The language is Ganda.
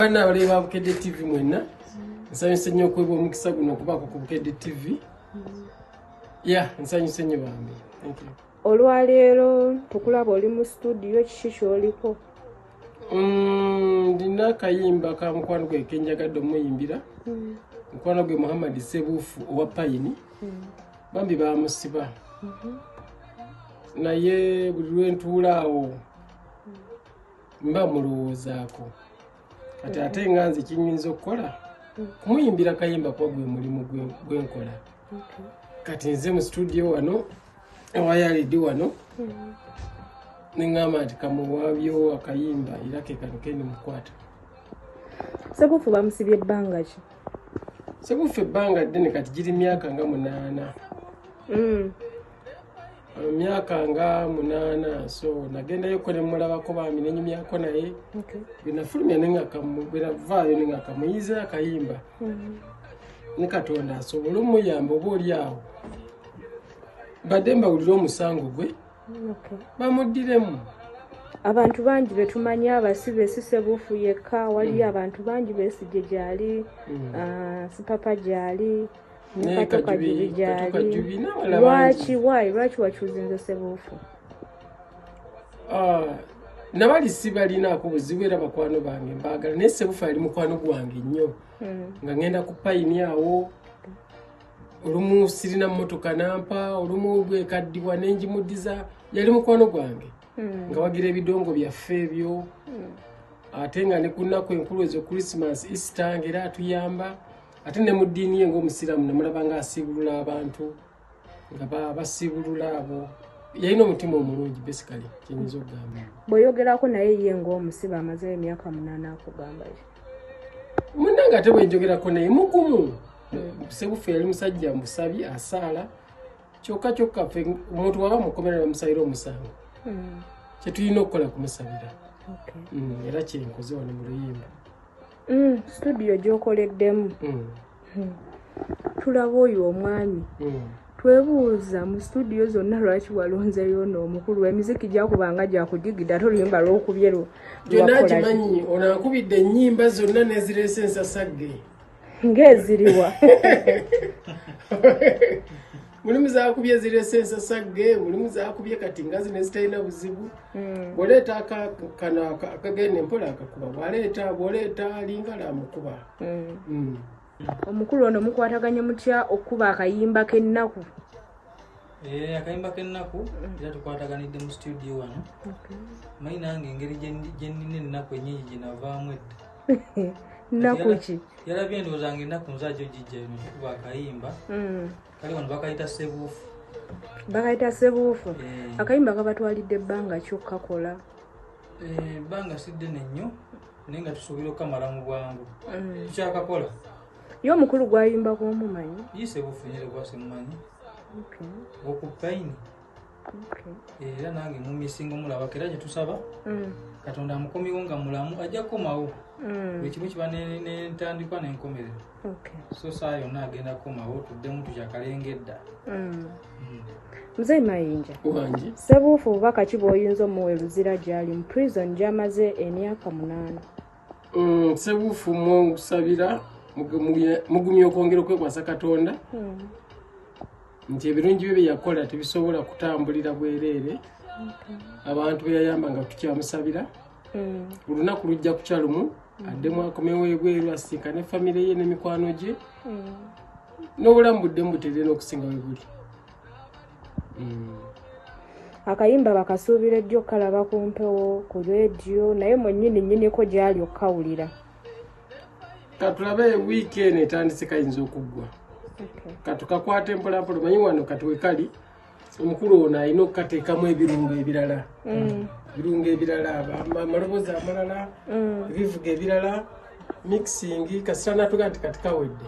bana abale ba bukedde tv mwenna nsanyuse nnyo okwebwa omukisa guno okubaako ku bukedde tv ya nsanyuse nnyo bambi olwaleero tukulaba oli mu situdiyo kiki kyoliko mm, ndina akayimba ka mukwano gwe kenjagadde omuyimbira hmm. mukwano gwe muhammad sebuufu owa payini hmm. bambi bamusiba mhm. naye buli lwentuulaawo mba mulowoozaako kati ate nga nze kinyinza okukola kumuyimbira kayimba kuba gwe mulimu gwenkola kati nze mu situdiyo wano ewayalidi wano neŋgamba nti kamuwabyo akayimba era kekano kendi mukwata sebufu bamusibye ebbanga ki sebufu ebbanga ddene kati giri myaka nga munaana mm. emyaka nga munaana so nagendayo ko nemulabako bambi nenyumyako naye bwenafulumya bwenavaayo nengakamuyize akayimba mm-hmm. ne katonda asobole omuyamba oba oli awo badde mbawulire omusango gwe bamuddiremu abantu bangi betumanyi abasi besise buufu yekka waliyo mm. abantu bangi besije gyali mm. ah, sipapa gyali ne katukajubi gyali lwaki why lwaki wachuzinze sebuufu ah, nabali sibalinaako buzibu era bakwano bange mbaagala naye sebuufu ali mukwano gwange nnyo hmm. nga ngenda ku payini awo olumu sirina mmotoka nampa olumu bwekaddiwa nenjimudiza yali mukwano gwange hmm. nga wagira ebidongo byaffe ebyo hmm. ate nga ne ku nnaku enkulu ezo christmas easter ngaera atuyamba ate ne mu ddiini ye ngaomusiraamu namulaba nga asiibulula abantu nga basiibulula abo yalina omutima omulungi besikale kyenyinza okugamba bweyogerako naye ye ngaomusiba amazeyo emyaka munaana akugamba ye munange ate bwenjogerako naye mugumu sebufe yali musajja musabi asaala kyokka kyokka fe omuntu waba mukomera bamusabira omusango hmm. kyetulina okukola kumusabira hmm, era kyenkoze wano mu luyimba mm, studio gyokoleddemu mm. Hmm. tulaba oyo omwami mm. twebuuza mu studio zonna lwaki walonzeyo no omukulu emiziki gyakubanga gyakujigidde ate oluyimba lwokubye lwo gyonna gimanyi onakubidde ennyimba zonna nezireese ensasagge ngaeziriwa mulimu zakubye zirese ensasagge mulimu zakubye kati nga zino ezitalina buzibu hmm. bwoleeta kano akagenda empola akakuba bwaleeta bwoleeta lingala amukuba hmm. hmm. omukulu ono mukwataganye mutya okukuba akayimba k'ennaku eh, akayimba k'ennaku era tukwataganidde mu situdio wano mayi nange engeri gyenina ennaku enyingi gyenavaamu edda nakuki yalabye endowooza nga ennaku nzajo gijja eno kuba akayimba mm. kali wano bakayita sebuufu bakayita sebuufu eh. akayimba kabatwalidde ebbanga kyokkakola eh, ebbanga si ddene nnyo naye nga tusuubira okukamala mu bwangu mm. tukyakakola ye omukulu gwayimbako omumanyi ye sebuufu nyere gwasemumanyi okupayini era nange mumisinga omulabako era kyetusaba mm. katonda amukomiwo nga mulamu ajja kukomawo mm. buli kimu kiba nentandikwa nenkomerero so saa yonna agenda kukomawo tuddemu tukyakalenga edda mm. mzee mayinja sebuufu bubaka ki bwoyinza omuwa eluzira gyali mu prison gyamaze emyaka munaana Mm, sebuufu mukusabira mugumya okwongera okwekwasa katonda hmm. nti ebirungi bye byeyakola tebisobola kutambulira bwereere abantu beyayamba nga tukyamusabira hmm. olunaku lujja kukya lumu hmm. addemu akomewo ebweru asiika ne famiry ye nemikwano gye n'obulamu buddemu buterere n'okusinga webuli mm. akayimba bakasuubira ejjo kalaba ku mpewo ku rediyo naye mwenyini nyiniko gyali okukawulira katulabe wiiki eno etandise kayinza okuggwa katukakwata empolampola manyi wano katuwekali omukulu ono alina okukateekamu ebirungo ebirala mm. ebirungo ebirala amaloboozi amalala mm. ebivuga ebirala mixing kasita natuga nti katikawedde